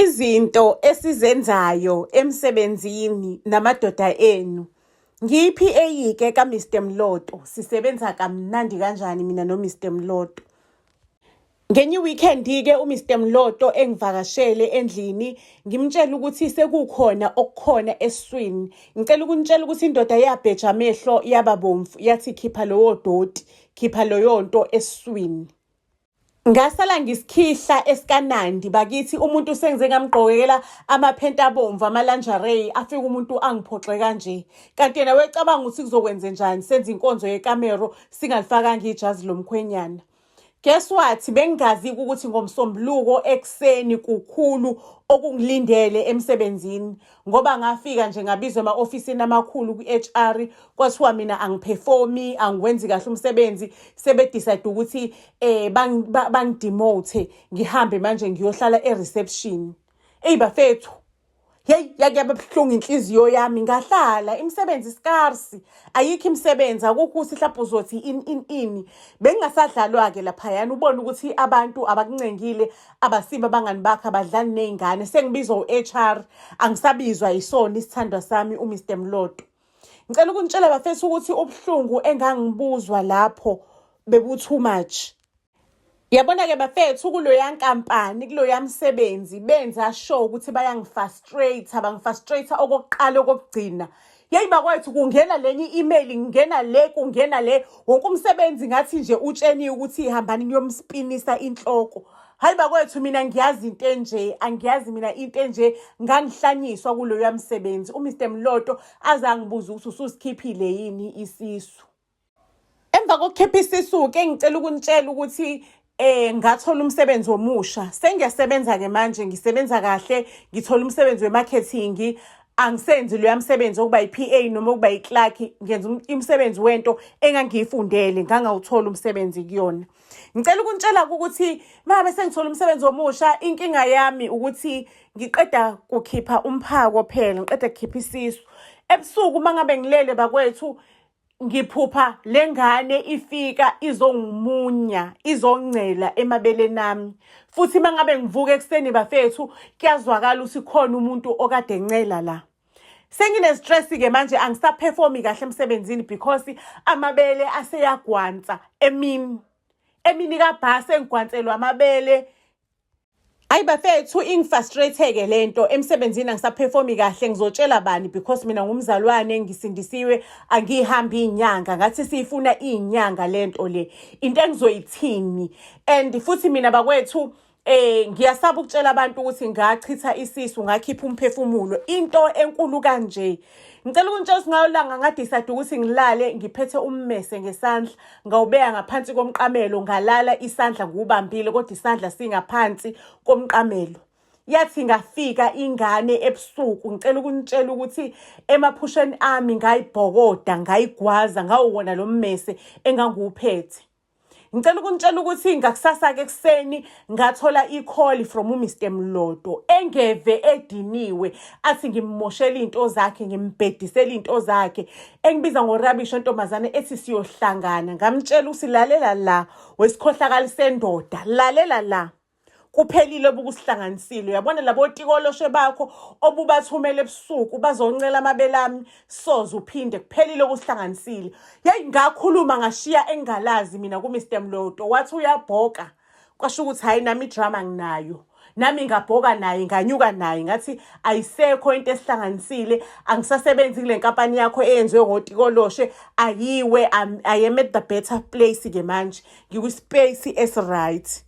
Izinto esizenzayo emsebenzini namadoda enu. Ngiyi-PA ke kaMr Mloto, sisebenza kamnandi kanjani mina noMr Mloto. Ngenye weekend-ke uMr Mloto engivakashele endlini ngimtshela ukuthi sekukhona okukhona eswini. Ngicela ukunitshela ukuthi indoda yabheja amehlo yaba bomvu yathi khipha lowo doti, khipha loyo nto eswini. Ngasala ngisikhihla esikaNandi bakithi umuntu sengize ngamgqokekela amaphenti abomvu amalanjarey afika umuntu angiphoxe kanje kanti yena wecabanga ukuthi kuzokwenze njani senza inkonzo yekamero singalifakanga ijazi lomkhwenyana guess what bengingazi ukuthi ngomsombuluko ekuseni kukhulu okungilindele emsebenzini ngoba ngafika nje ngabizwa ema-ofisini amakhulu kwi-HR kwathiwa mina angiperformi angiwenzi kahle umsebenzi sebedecide ukuthi eh bangidemote ngihambe manje ngiyohlala e-reception eyi bafethu yeyi yake yababuhlungu inhliziyo yami ngahlala imisebenzi scarsi ayikho imisebenzi akukho ukuthi mhlawumbe uzothi in in ini bengingasadlalwa-ke laphayana ubone ukuthi abantu abakuncengile abasiba abangani bakho abadlali ney'ngane sengibizwa u-h r angisabizwa yisona isithandwa sami umr mloto ngicela ukunitshela bafethu ukuthi ubuhlungu engangibuzwa lapho bebu-too much Yabona-ke bafethu kuloya nkampani kuloya msebenzi benza sure ukuthi bayangifastrate bangifastrate okokuqala okokugcina yeyi bakwethu kungena lenye i-email ngingena le kungena le wonke umsebenzi ngathi nje utsheniwe ukuthi ihambani ngiyomuspinisa inhloko hayi bakwethu mina ngiyazi into enje angiyazi mina into enje ngangihlanyiswa kuloya msebenzi umr mloto azangibuza ukuthi ususikhiphile yini isisu Emva kokukhipha isisu-ke ngicela ukunitshela ukuthi eh ngathola umsebenzi omusha sengiyasebenza-ke manje ngisebenza kahle ngithola umsebenzi we-marketing angisenzi loya msebenzi okuba yi-p a noma okuba yi-clark ngenza umsebenzi wento engangiyifundele ngangawuthola umsebenzi kuyona ngicela ukunitshela-ke ukuthi mabe sengithola umsebenzi omusha inkinga yami ukuthi ngiqeda kukhipha umphako phela ngiqeda kukhipha isisu ebusuku uma ngabe ngilele bakwethu ngiphupha le ngane ifika izongumunya izongcela emabeleni ami futhi uma ngabe ngivuka ekuseni bafethu kuyazwakala ukuthi khona umuntu okade encela la senginestress-ke manje angisaphefumi kahle emsebenzini because amabele aseyagwansa emini emini kabhasi engigwanselwa amabele Ayi bafethu ingifrustrate-ke le nto emsebenzini angisaphefumi kahle ngizotshela bani because mina ngumzalwane ngisindisiwe angiyihambi iy'nyanga ngathi siyifuna iy'nyanga le nto le into engizoyithini and futhi mina bakwethu Eh ngiyasaba ukutshela abantu ukuthi ngachitha isisu ngakhipha umphefumulo into enkulu kanje. Ngicela ukuntshelisa ngayo langa ngadecide ukuthi ngilale ngiphethe ummese ngesandla. ngawubeka ngaphansi komqamelo ngalala isandla ngiwubambile kodwa isandla singaphansi komqamelo yathi ngafika ingane ebusuku ngicela ukunitshela ukuthi emaphusheni ami ngayibhokoda ngayigwaza ngawuwona lo mmese engangiwuphethe ngicela ukunitshela ukuthi ngakusasa-ke ekuseni ngathola ikholi from uMr Mlodo engeve ediniwe athi ngimmoshela into zakhe ngimbhedisela into zakhe engibiza ngorabisho ntombazane ethi siyohlangana ngamtshela usilalela la wesikhohlakala sendoda lalela la kuphelile obukusihlanganisile uyabona labo tikoloshe bakho obubathumela ebusuku bazoncela amabele ami soze uphinde kuphelile okusihlanganisile yeyi ngakhuluma ngashiya engalazi mina kumr mloto wathi uyabhoka kwasho ukuthi hhayi nami idrama nginayo nami ngabhoka naye nganyuka naye ngathi ayisekho into esihlanganisile angisasebenzi kule nkampani yakho eyenziwe ngotikoloshe ayiwe i am at the better place-ke manje ngikwispace esiright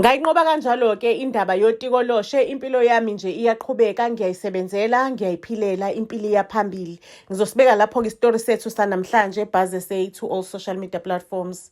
Ngayinqoba kanjalo-ke indaba yotikoloshe, impilo yami nje iyaqhubeka, ngiyayisebenzela, ngiyayiphilela, impilo iya phambili. Ngizosibeka lapho-ke isitori sethu sanamhlanje, Buzz SA to all social media platforms.